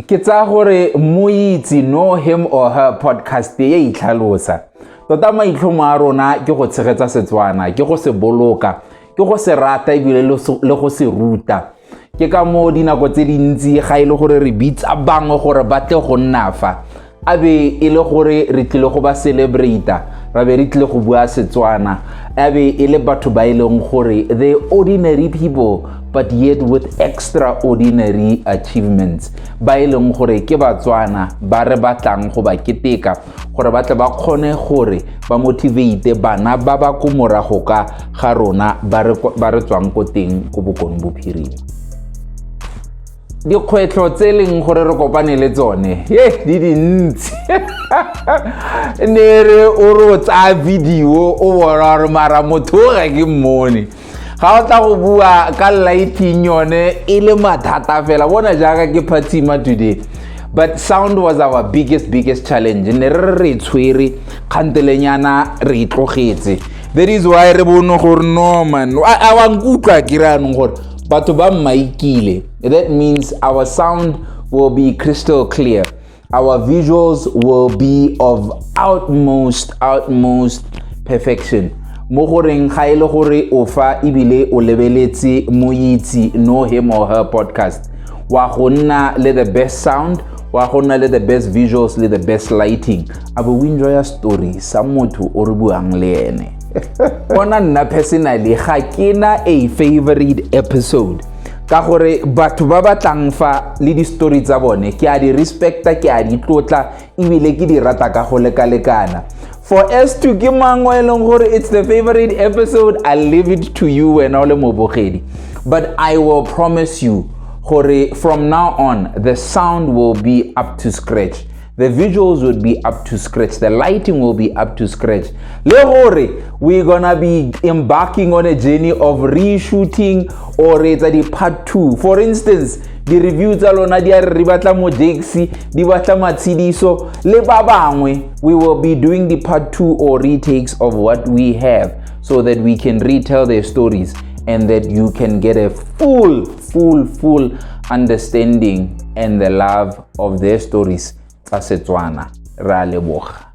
ke tsaya gore moitse no him or her podcast e itlhalosa tota maitlhomo a rona ke go tshegetsa setswana ke go se boloka ke go se rata ebile le go se ruta ke ka moo dinako tse dintsi ga e le gore re bitsa bangwe gore ba tle go nna fa a be e le gore re tlile go ba celebrata ra be re tlile go bua setswana a be e le batho ba e leng gore the ordinary people but yet with extraordinary achievements ba e leng gore ke batswana ba re batlang go ba keteka gore ba tle ba kgone gore ba motivate bana ba ba ko morago ka ga rona ba re tswang ko teng ko bokone bophirima dikgwetlho tse e leng gore re kopane le tsone e di dintsi ne re o re o tsaya video o bona gore mara motho o ga ke mmone ga o tla go bua ka lighting yone e le mathata fela bona jaaka ke phatsima today but sound was our biggest biggest challenge ne re re tshwere kgantelenyana re itlogetse that is why re bone gore norman a wa nkutlwa ke re anong gore batho ba mmaikile that means our sound will be crystal clear our visuals will be of utmost utmost perfection mo goreng ga e le gore o fa ebile o lebeletse moitse no him or her podcast wa go nna le the best sound wa go nna le the best visuals le the best lighting a bo o enjoya story sa motho o re buang le ene bona nna personally ga ke na a favorite episode ka gore batho ba ba tlang fa le di-story tsa bone ke a di respecta ke a di tlotla ebile ke di rata ka go lekalekana for s to ke mang o e leng gore it's the favorite episode i leave it to you wena o le mobogedi but i will promise you gore from now on the sound will be up to scratch the visuals would be up to scratch the lighting will be up to scratch le gore we're gonna be embarking on a journey of reshooting or etsa di-part two for instance di-review tsa lona di a re re batla mojeksi di batla matshediso le ba bangwe we will be doing di-part two or retakes of what we have so that we can retell their stories and that you can get a full full full understanding and the love of their stories tsa Setswana. Re a leboga.